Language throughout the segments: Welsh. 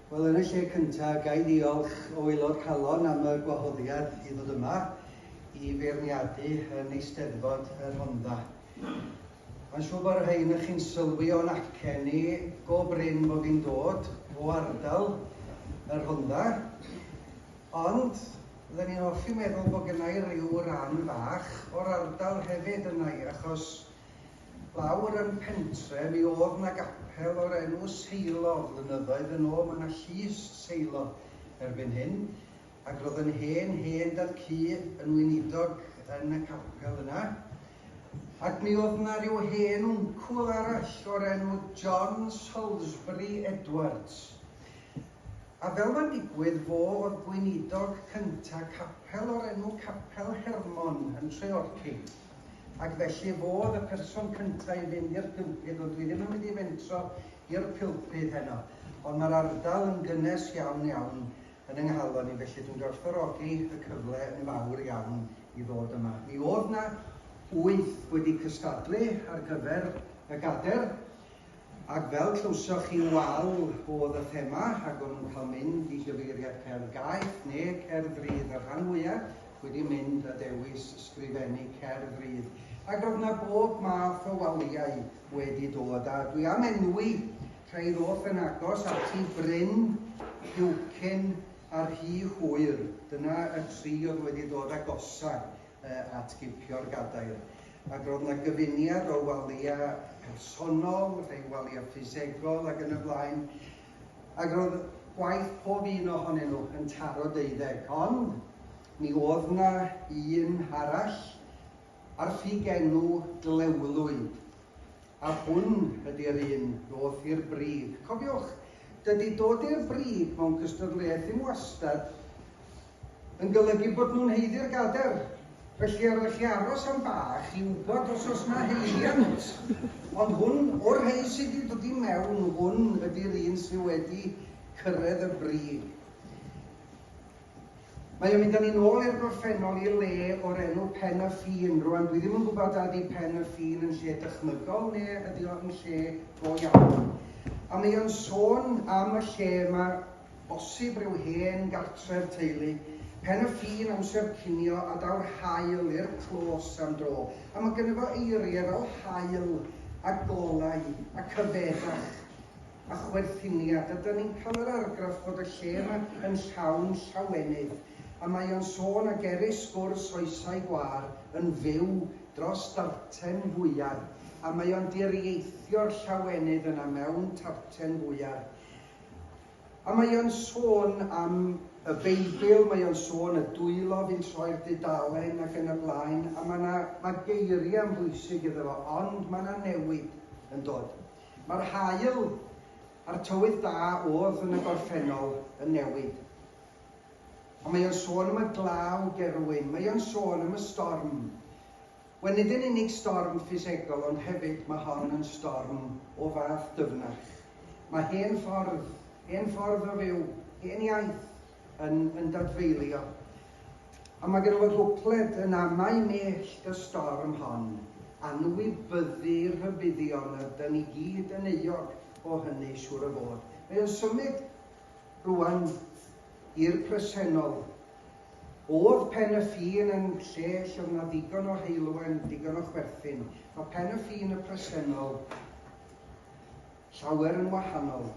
Wel, yn y lle cyntaf, ga i ddiolch o Aelod Calon am y gwahoddiad i ddod yma i feirniadu yn Eisteddfod y Rhondda. Mae'n siŵr bod rhai yn chi'n sylwi o'n acen ni go brin bod fi'n dod o ardal y Rhondda, ond fydden ni'n hoffi meddwl bod gennau rhyw ran fach o'r ardal hefyd yna i, achos Lawr yn pentre mi o'dd 'na gapel o'r enw Seilo, flynyddoedd yn ôl ma' 'na llys Seilo erbyn hyn, ag ro'dd yn hen hen dad cu yn weinidog yn y capel yna, ac mi o'dd 'na ryw hen wncwl arall o'r enw John Salisbury Edwards, a fel ma'n digwydd fo o'dd gweinidog cynta capel o'r enw Capel Hermon yn Treorci. Ac felly fodd y person cynta i fynd i'r pulpud, wel dwi ddim yn mynd i fentro i'r pulpud heno, ond mae'r ardal yn gynnes iawn iawn yn yng nghalon i, felly dwi'n gwerthfawrogi y cyfle yn fawr iawn i ddod yma. Mi o'dd 'na wyth wedi cystadlu ar gyfer y gader, Ac fel clywsoch chi wal oedd y thema, rhag o'n nhw'n cael mynd i gyfeiriad cerdd gaeth ne cerdd rydd y rhan fwya wedi mynd a dewis sgrifennu cerdd rydd. Ac roedd na bob math o waliau wedi dod a dwi am enwi rhai ddoth yn agos ati, Bryn, Heucyn a Rhy Hwyr, dyna y tri oedd wedi dod agosa at gipio'r gadair. ac roedd yna gyfuniad o waliau personol, rhai waliau ffisegol ac yn y blaen, ac roedd gwaith pob un ohonyn nhw yn taro deuddeg, ond mi oedd yna un arall ar ffug enw Glewlwyd. A hwn ydi'r un ddoth i'r brig. Cofiwch, dydi dod i'r brig mewn cystadleuaeth ddim wastad yn golygu bod nhw'n haeddu'r gader, felly yr ydych chi aros am bach i wybod os oes yna haeddiant. Ond hwn, o'r rhei sydd wedi dod i mewn, hwn ydi'r un sydd wedi cyrraedd y brig. Mae o'n mynd â ni'n ôl i'r gorffennol, i'r le o'r enw Pen y Ffin. Rwan, dwi ddim yn gwybod a ydy Pen y Ffin yn lle dychmygol neu ydy o yn lle go iawn. A mae o'n sôn am y lle yma, bosib rhyw hen gartref teulu. Pen y Ffin, amser cinio, a daw'r haul i'r clos am dro. A mae gynno fo eiriau fel haul a golau a cyfeddach. a chwerthinni a dydan ni'n cael yr argraff bod y lle yma yn llawn llawenydd a mae o'n sôn ag erys gwrs oesau gwâr yn fyw dros darten fwyar a mae o'n diriaethio'r llawenydd yna mewn tarten fwyar a mae o'n sôn am y Beibl mae o'n sôn y dwylo fi'n troi'r dudalen ac yn y blaen a mae 'na mae geiriau'n bwysig iddo fo ond mae 'na newid yn dod Mae'r haul a'r tywydd da oedd yn y gorffennol yn newid. Ond mae o'n sôn am y glaw gerwin, mae o'n sôn am y storm. Wel, nid yn unig storm ffisegol, ond hefyd mae hon yn storm o fath dyfnach. Mae hen ffordd, hen ffordd o fyw, hen iaith, yn, yn dadfeilio. Ond mae gennym y rhwcled yn amau mellt y storm hon, anwybyddu rhybuddion yr dyn i gyd yn euog o hynny siŵr o fod. Mae o'n symud rwan i'r presennol. Oedd pen y ffin yn lle lle oedd yna ddigon o heulwen, digon o chwerthin. Mae pen y ffin y presennol Llawer yn wahanol.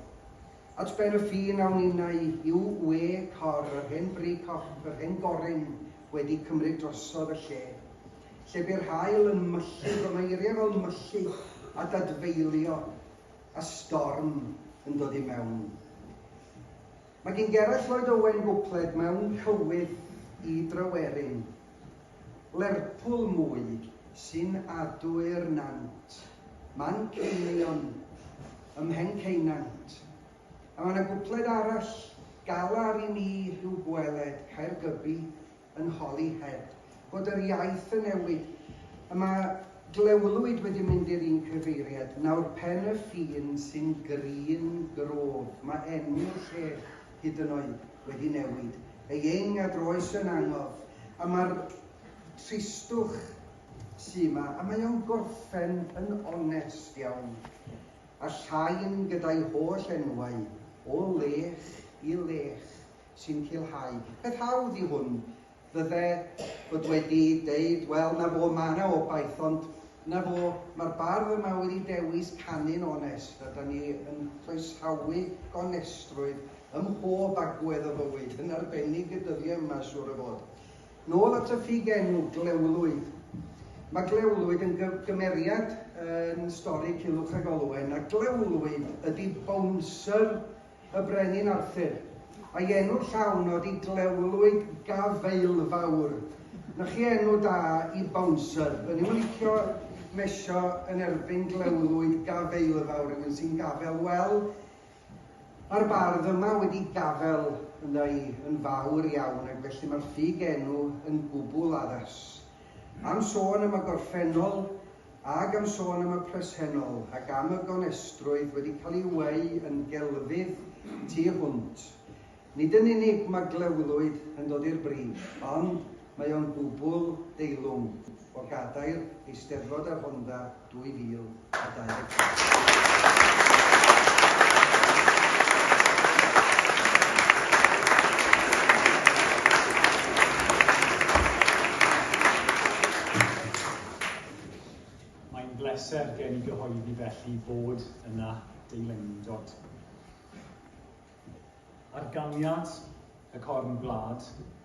At ben y ffin awn innau i'w we cor, yr hen fri cop, yr hen goryn wedi cymryd drosodd y lle. Lle bu'r haul yn myllu, roedd yna eiriau fel myllu a dadfeilio, a storm yn dod i mewn. Mae gen Gerallt Lloyd Owen gwpled mewn cywydd i Dryweryn. Lerpwl mwy sy'n adu'r nant. Manceinion ym Mhenceunant. A mae 'na gwpled arall, Galar i mi rhyw gweled Caergybi yn holi Heb fod yr iaith yn newid A mae Glewlwyd wedi mynd i'r un cyfeiriad Nawr Pen-y-ffin sy'n grin Grôf, mae enw'r lle hyd yn oed wedi newid ei ing a droes yn angof, a mae'r tristwch sy' 'ma, a mae o'n gorffen yn onest iawn, a Llain gyda'i holl enwau, o lech i lech, sy'n culhau. Peth hawdd i hwn, Fydde fod wedi deud, wel, 'na fo, ma' 'na obaith, ond 'na fo, ma'r bardd yma wedi dewis canu'n onest, a 'dan ni yn croesawu gonestrwydd ym mhob agwedd o fywyd, yn arbennig y dyddiau yma, siŵr o fod. Nôl at y ffug enw, Glewlwyd. Mae Glewlwyd yn gymeriad yn stori Culhwch ac Olwen, a Glewlwyd ydi bouncer y Brenin Arthur, a'i enw llawn ydi Glewlwyd Gafaelfawr. Na chi enw da i bouncer. O'n i'm yn licio mesio yn erbyn Glewlwyd Gafaelfawr, rhywun sy'n gafel. Wel, mae'r bardd yma wedi gafel ynddo i yn fawr iawn ac felly mae'r ffug enw yn gwbl addas. Am sôn am y gorffennol, ag am sôn am y presennol, ac am y gonestrwydd wedi cael ei weu yn gelfydd tu hwnt, nid yn unig mae Glewlwyd yn dod i'r brif, ond mae o'n gwbl deilwng o gadair Eisteddfod y Rhondda, 2024. Mae'n bleser gen i gyhoeddi felly fod yna deilyngdod ar ganiad y Corn Gwlad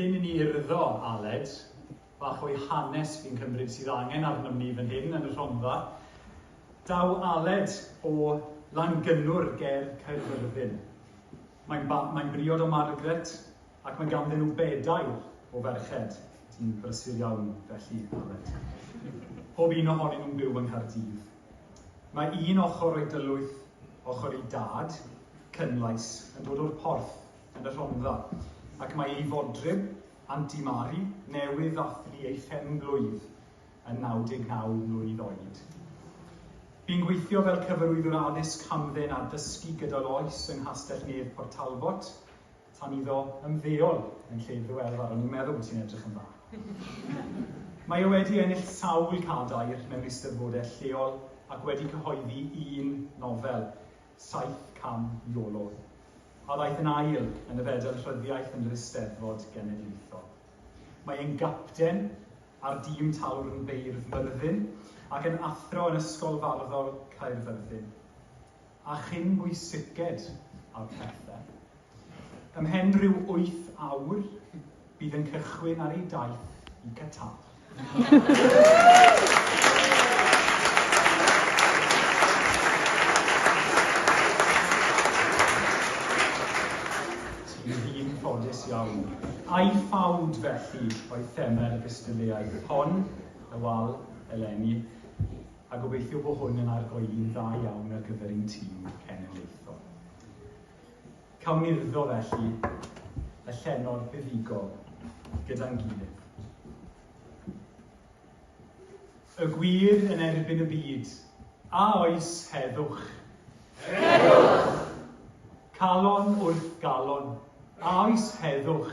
Cyn i ni urddo, Aled, bach o'i hanes fi'n cymryd sydd angen arnom ni fan hyn yn y Rhondda. Daw Aled o Langynnwr ger Caerfyrddin. Mae'n mae briod o Margaret, Ac mae ganddyn nhw bedair o ferched sy'n brysur iawn, felly, Aled. Pob un ohonyn nhw'n byw yng Nghaerdydd. Mae un ochr o'i dylwyth, ochr ei dad, Cynlais, yn dod o'r Porth, yn y Rhondda, ac mae ei fodryb, Anti Mari, newydd ddathlu ei phen-blwydd yn 99 mlwydd oed. Bu'n gweithio fel cyfarwyddwr addysg hamdden a dysgu gydol oes yng Nghastell-nedd Port Talbot, Tan iddo ymddeol yn lle iddo ef ar o'n i'n meddwl bod hi'n edrych yn dda. Mae e wedi ennill sawl cadair mewn eisteddfodau lleol ac wedi cyhoeddi un nofel, Saith Cam Iolo, a ddaeth yn ail yn y Fedal Rhyddiaith yn yr Eisteddfod Genedlaethol. Mae e'n gapten ar dîm Talwrn Beirdd Myrddin ac yn athro yn Ysgol Farddol Caerfyrddin. a chyn bwysiced a phethe. Ymhen rhyw wyth awr bydd yn cychwyn ar ei daith i Qatar. Ti'n ddyn ffodus iawn. Ai ffawd, felly, oedd theme'r gystadleuaeth hon, y wal, eleni? a gobeithio bo hwn yn argoeli'n dda iawn ar gyfer ein tîm cenedlaethol. Cawn urddo felly y llenor buddugol gyda'n gilydd. Y gwir yn erbyn y byd. A oes heddwch? Heddwch! Calon wrth galon. A oes heddwch?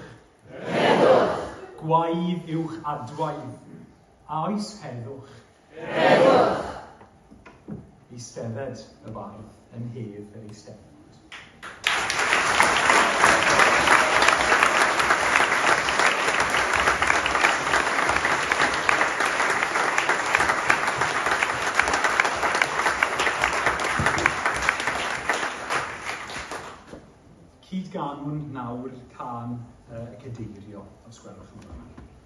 Heddwch! Gwaedd uwch adwaedd. A oes heddwch? Heddwch! Eistedded y bardd yn hedd yr Eisteddfod. Cyd-ganwn nawr can y Cadeirio, os gwelwch yn dda.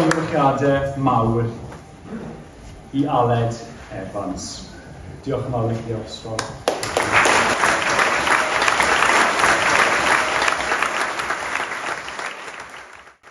Llongyfarchiadau mawr i Aled Evans. Diolch yn fawr i chi, Oxford.